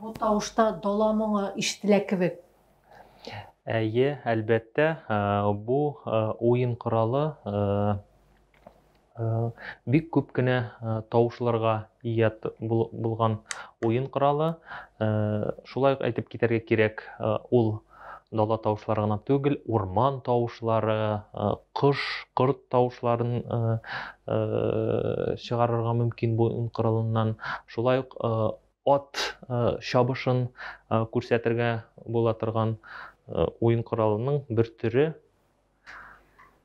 Бу тавышта дала моңы ишетелә кебек. Әйе, әлбәттә, бу уен коралы Бик күп кенә тавышларга ия булган уен коралы. Шулай ук әйтеп китәргә кирәк, ул дала тавышлары гына түгел, урман тавышлары, кош, корт тавышларын чыгарырга мөмкин бу уен коралыннан. Шулай ук ат чабышын күрсәтергә була торган уен коралының бер төре.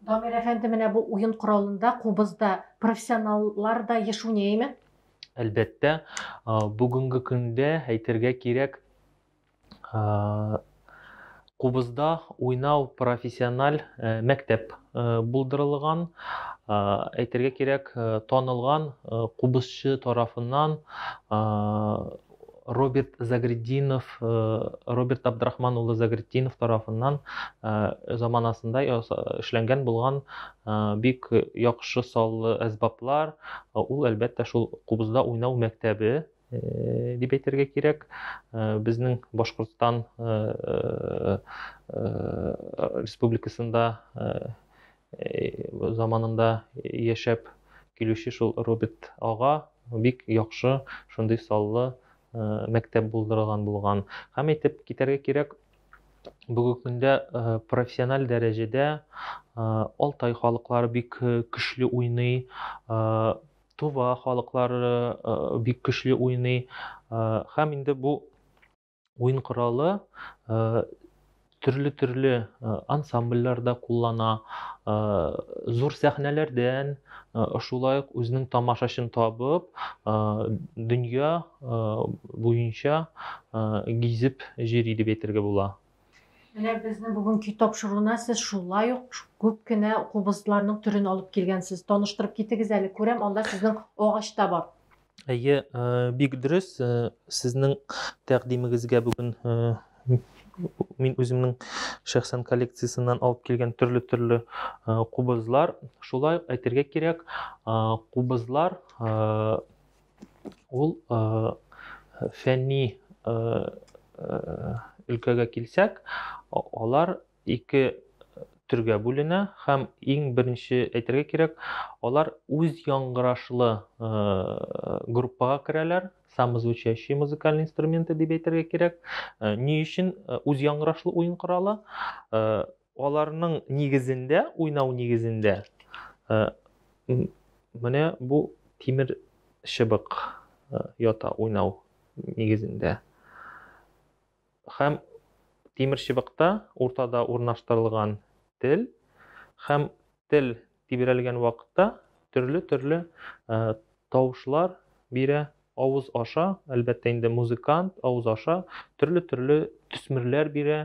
Дамир әфәнде, менә бу уен коралында, кубызда профессионаллар да еш уйныймы? Әлбәттә, бүгенге көндә әйтергә кирәк, кубызда уйнау профессиональ мәктәп булдырылган. Әйтергә кирәк, танылган кубызчы тарафыннан Роберт Загреддинов, Роберт Абдрахман улы Загреддинов тарафыннан заманасында эшләнгән булган бик яхшы саллы әсбаплар, ул әлбәттә шул кубызда уйнау мәктәбе Э, дип әйтергә кирәк э, безнең башкортстан э, республикасында заманында яшәп килүче шул Роберт ага бик яхшы шундый саллы мәктәп булдырылган булган. Һәм әйтеп китәргә кирәк, бүгенге көндә профессиональ дәрәҗәдә Алтай халыклары бик көчле уйный, Тува халыклары бик көчле уйный. Һәм инде бу уен коралы төрле-төрле ансамбльләрдә куллана, зур сәхнәләрдән, шулай ук үзенең тамашачын табып, дөнья буенча гизеп йөри дип әйтергә була. Менә безнең бүгенге тапшыруына сез шулай ук күп кенә кубызларның төрен алып килгәнсез. Таныштырып китегез әле, күрәм, анда сезнең агач та бар. Әйе, э, бик дөрес. Э, сезнең тәкъдимегезгә бүген э, мин үземнең шәхсән коллекциясеннән алып килгән төрле-төрле кубызлар. Шулай әйтергә кирәк, кубызлар ул фәнни өлкәгә килсәк, алар ике төргә бүленә һәм иң беренче әйтергә кирәк, алар үз яңгырашлы группага керәләр, самозвучащие музыкальные инструменты дип әйтергә кирәк. Э, ни өчен э, үз яңгырашлы уен коралы? Э, аларның нигезендә, уйнау нигезендә менә бу тимер шыбык ята уйнау нигезендә. Һәм тимерчыбыкта уртада урнаштырылган тел һәм тел тибрәлгән вакытта төрле-төрле тавышлар бирә, авыз аша, әлбәттә инде музыкант авыз аша төрле-төрле төсмерләр бирә,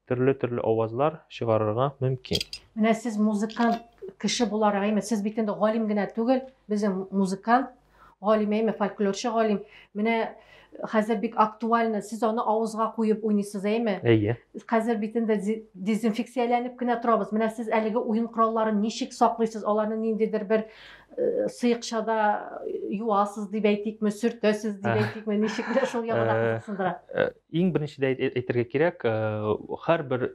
төрле-төрле авазлар чыгарырга мөмкин. Менә сез музыкант кеше буларак, әйме, сез бит инде галим генә түгел, безнең музыкант Галим әйме, фольклорчы галим. Менә хәзер бик актуально, сез аны авызга куеп уйныйсыз, әйме? Әйе. Хәзер бит инде дезинфекцияләнеп кенә торабыз. Менә сез әлеге уен коралларын ничек саклыйсыз? Аларны ниндидер бер э, сыйыкчада юасыз дип әйтикме, сөртәсез дип әйтикме, ничек менә шул ягына кызыксындыра. Иң беренчедә әйтергә кирәк, һәрбер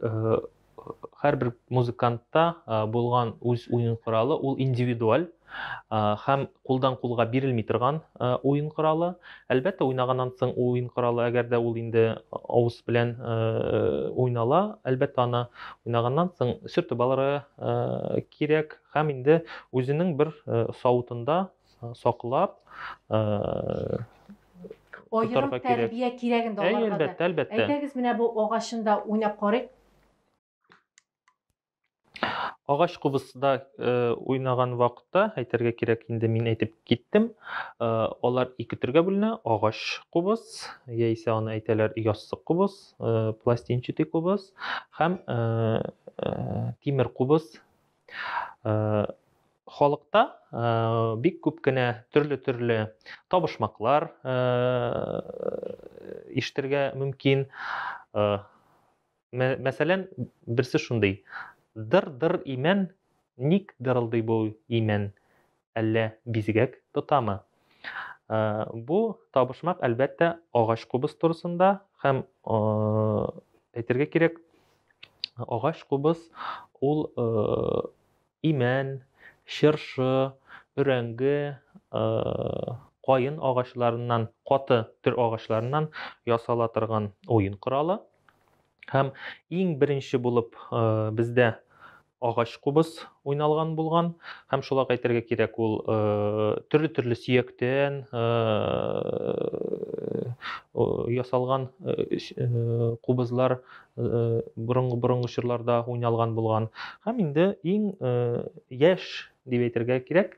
һәрбер музыкантта булган үз уен коралы ул индивидуаль һәм кулдан кулга бирелми торган уен коралы әлбәттә уйнаганнан соң уен коралы әгәр дә ул инде авыз белән уйнала әлбәттә аны уйнаганнан соң сөртеп алырга кирәк һәм инде үзенең бер савытында саклап аерым тәрбия кирәген дә аларга да. Әлбәттә, әлбәттә. Әйдәгез менә бу агачында уйнап карыйк. Агач кубысда уйнаган вакытта, әйтергә кирәк, инде мин әйтеп киттем, алар ике төргә бүленә, агач кубыс, яисә аны әйтәләр яссык кубыс, пластинчатый кубыс һәм тимер кубыс Халыкта бик күп кенә төрле-төрле табышмаклар ишетергә мөмкин. Мәсәлән, берсе шундый. Дыр-дыр имән, ник дырылдый бу имән? әллә бизгәк тотамы? Бу табышмак, әлбәттә, агач кубыз турысында һәм әйтергә кирәк, агач кубыз ул имән, чыршы, өрәңге, каен агачларыннан, каты төр агачларыннан ясала торган уен коралы. Һәм иң беренче булып бездә агач кубыз уйналган булган һәм шулай әйтергә кирәк ул төрле-төрле сөяктән ясалган кубызлар борынгы борынгы чорларда уйналган булган һәм инде иң яшь дип әйтергә кирәк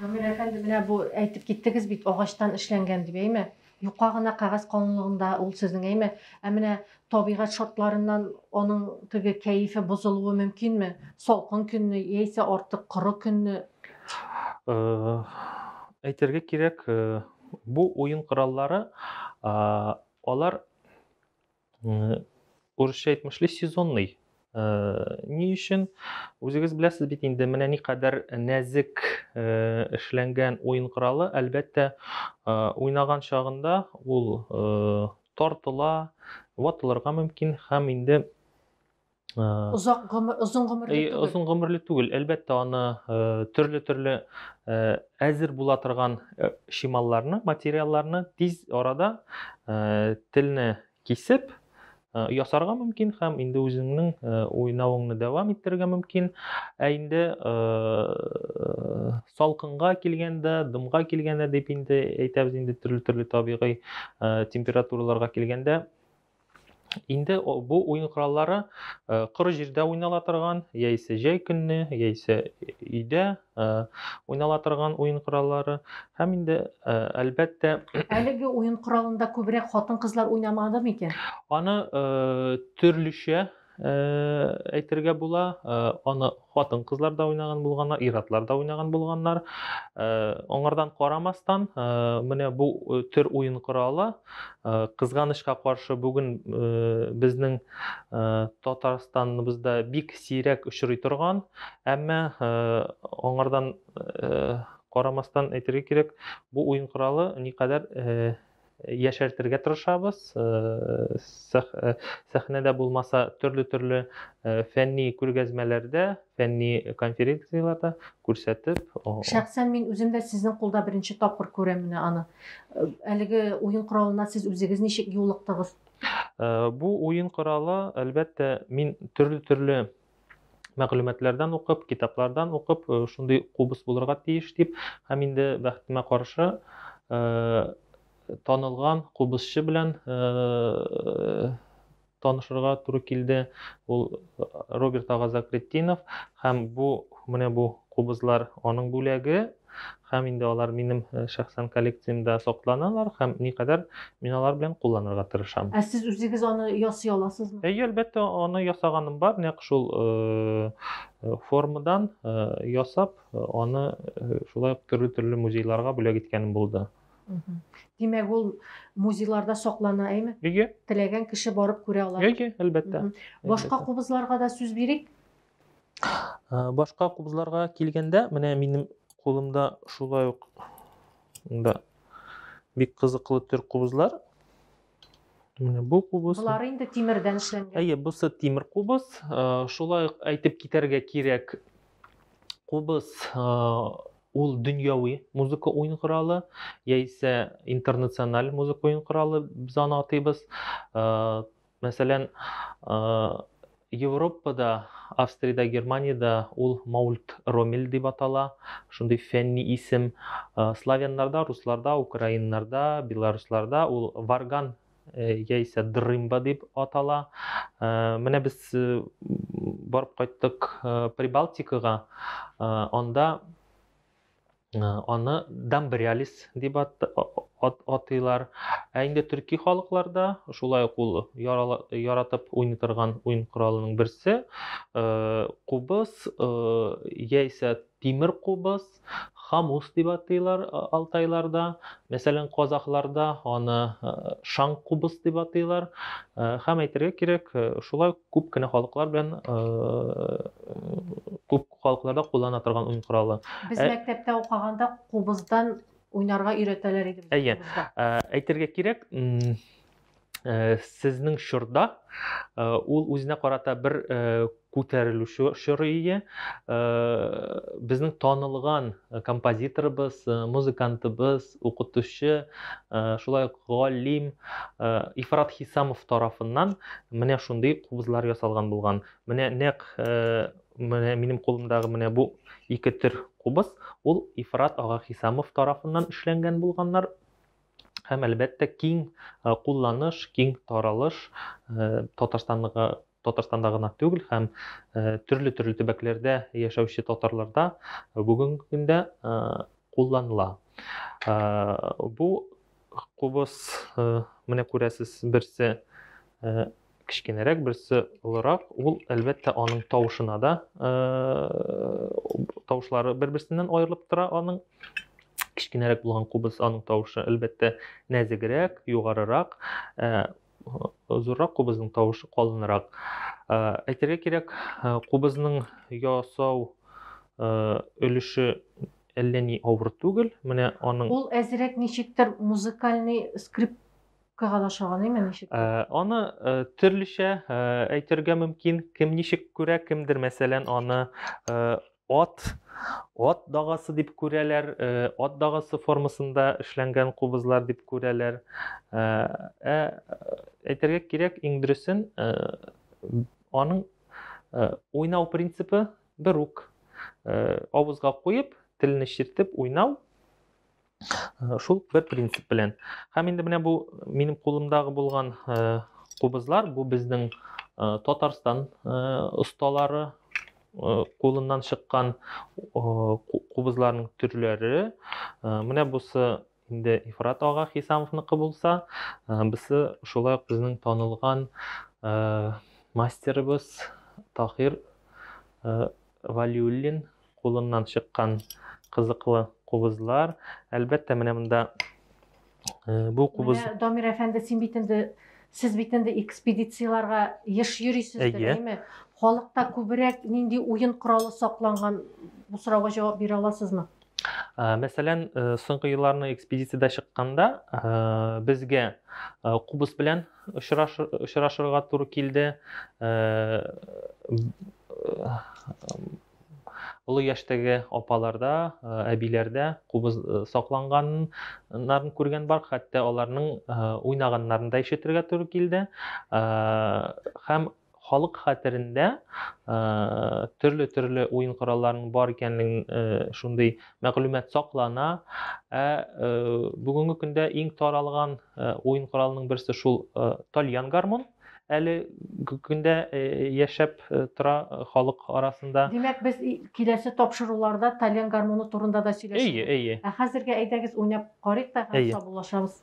Гамир әфәнде, менә бу әйтеп киттегез бит, агачтан эшләнгән дип, әйме? Юка гына кәгазь калынлыгында ул сезнең, әйме? Ә менә табигать шартларыннан аның теге кәефе бозылуы мөмкинме? Салкын көнне яисә артык коры көнне? Э, әйтергә кирәк, э, бу уен кораллары, алар Урысча әйтмешли сезонный. Ни өчен? Үзегез беләсез бит инде, менә ни кадәр нәзек эшләнгән уен коралы, әлбәттә, уйнаган чагында ул тартыла, ватылырга мөмкин һәм инде Озак гомер, озын гомерле э, түгел. Озын гомерле түгел. Әлбәттә, аны э, төрле-төрле э, әзер була торган шималларны, материалларны тиз арада телне кисеп ясарга мөмкин һәм инде үзеңнең уйнавыңны дәвам иттерергә мөмкин. Ә инде салкынга килгәндә, дымга килгәндә дип инде әйтәбез инде төрле-төрле табигый температураларга килгәндә Инде бу уен кораллары э, коры җирдә уйнала торган, яисә җәй көнне, яисә өйдә э, уйнала торган уен кораллары һәм инде э, әлбәттә Әлеге уен коралында күбрәк хатын-кызлар уйнамады микән? аны төрлечә әйтергә була. Аны хатын-кызлар да уйнаган булганнар, ир-атлар да уйнаган булганнар. Аңардан карамастан, менә бу төр уен коралы кызганычка каршы бүген безнең Татарстаныбызда бик сирәк очрый торган, әмма аңардан карамастан әйтергә кирәк, бу уен коралы никадәр яшәртергә тырышабыз. Сәхнәдә булмаса, төрле-төрле фәнни күргәзмәләрдә, фәнни конференцияләрдә күрсәтеп. Шәхсән мин үзем дә сезнең кулда беренче тапкыр күрәм менә аны. Әлеге уен коралына сез үзегез ничек юлыктыгыз? Бу уен коралы, әлбәттә, мин төрле-төрле мәгълүматлардан укып, китаплардан укып, э, шундый кубыз булырга тиеш дип, һәм инде бәхетемә каршы э, танылган кубызчы белән э, танышырга туры килде. Ул Роберт Агазакретдинов һәм бу менә бу кубызлар аның бүләге. һәм инде алар минем шәхсән коллекциямдә сакланалар һәм никадәр мин алар белән кулланырга тырышам. Ә сез үзегез аны ясый аласызмы? Әйе, әлбәттә, аны ясаганым бар, нәкъ шул формадан ясап, аны шулай ук төрле-төрле музейларга бүләк иткәнем булды. Димәк, ул музейларда саклана, әйме? Әйе. Теләгән кеше барып күрә ала. Әйе, әлбәттә. Башка кубызларга да сүз бирик. Башка кубзларга килгәндә, менә минем кулымда шулай ук да бик кызыклы төр кубызлар. Менә бу кубыз. Булар инде тимердән эшләнгән. Әйе, бусы тимер кубыз. Шулай ук әйтеп китәргә кирәк, кубыз ул дөньяви музыка уен коралы яисә интернациональ музыка уен коралы без аны атыйбыз Мәсәлән, Европада, Австриядә, Германиядә ул Маульт Ромель дип атала, шундый фәнни исем. Славяннарда, русларда, украиннарда, белорусларда ул Варган яисә Дрымба дип атала. Менә без барып кайттык Прибалтикага, анда Аны дамбриалис дип атыйлар. Ә инде төрки халыкларда шулай ук ул яратып уйный торган уен коралының берсе кубыз яисә тимер кубыз, хамус дип атыйлар алтайларда. Мәсәлән, казахларда аны шаң кубыз дип атыйлар. Һәм әйтергә кирәк, шулай күп кенә халыклар белән күп Халыкларда куллана торган уен коралы. Без мәктәптә укыганда кубыздан уйнарга өйрәтәләр иде. Әйе. Әйтергә кирәк, Э, сезнең чорда э, ул үзенә карата бер э, күтәрелүче чоры иде безнең танылган композиторыбыз музыкантыбыз укытучы шулай ук галим ифрат хисамов тарафыннан менә шундый кубызлар ясалган булган менә нәкъ Менә минем кулымдагы менә бу ике төр кубыз, ул Ифрат ага Хисамов тарафыннан эшләнгән булганнар. Һәм әлбәттә киң э, кулланыш, киң таралыш э, Татарстанга Татарстанда гына түгел һәм э, төрле-төрле төбәкләрдә яшәүче татарларда бүгенге көндә кулланыла. Бу кубыз менә күрәсез берсе кечкенәрәк, берсе олырак, ул әлбәттә аның тавышына да тавышлары бер-берсеннән аерылып тора аның. Кечкенәрәк булган кубыз аның тавышы әлбәттә нәзегрәк, югарырак, зуррак кубызның тавышы калынрак. Әйтергә кирәк, кубызның ясау өлеше әллә ни авыр түгел. Менә аның Ул әзрәк ничектер музыкальный скрип Кага да шаганыймы ничек? Э, аны э, төрлечә э, әйтергә мөмкин. Кем ничек күрә, кемдер мәсәлән аны ат ат дагасы дип күрәләр, ат дагасы формасында эшләнгән кубызлар дип күрәләр. Ә әйтергә кирәк, иң дөресен аның уйнау принципы бер үк. Авызга куеп, телне чиртеп уйнау Э, шул бер принцип белән һәм инде менә бу минем кулымдагы булган э, кубызлар бу безнең э, татарстан осталары кулыннан чыккан кубызларның төрләре менә бусы инде ифрат ага хисамовныкы булса бусы шулай ук безнең танылган мастерыбыз тахир Вәлиуллин кулыннан чыккан кызыклы кубызлар. Әлбәттә, менә монда бу кубыз... Менә, Дамир әфәнде, син бит инде, сез бит инде экспедицияләргә еш йөрисездер, әйме? Халыкта күбрәк нинди уен коралы сакланган? Бу сорауга җавап бирә аласызмы? Мәсәлән, соңгы елларны экспедициядә чыкканда безгә кубус белән очрашырга туры килде. Олы яшьтәге апаларда, әбиләрдә кубыз сакланганнарын күргән бар, хәтта аларның уйнаганнарын да ишетергә туры килде. Һәм Халык хәтерендә төрле-төрле уен коралларының бар икәнлеген шундый мәгълүмат саклана. Ә бүгенге көндә иң таралган уен коралының берсе шул тальян гармун әле көндә яшәп тора халык арасында. Димәк, без киләсе тапшыруларда тальян гармуны турында да сөйләшәбез. Әйе, әйе. Ә хәзергә әйдәгез уйнап карыйк та, саубуллашабыз.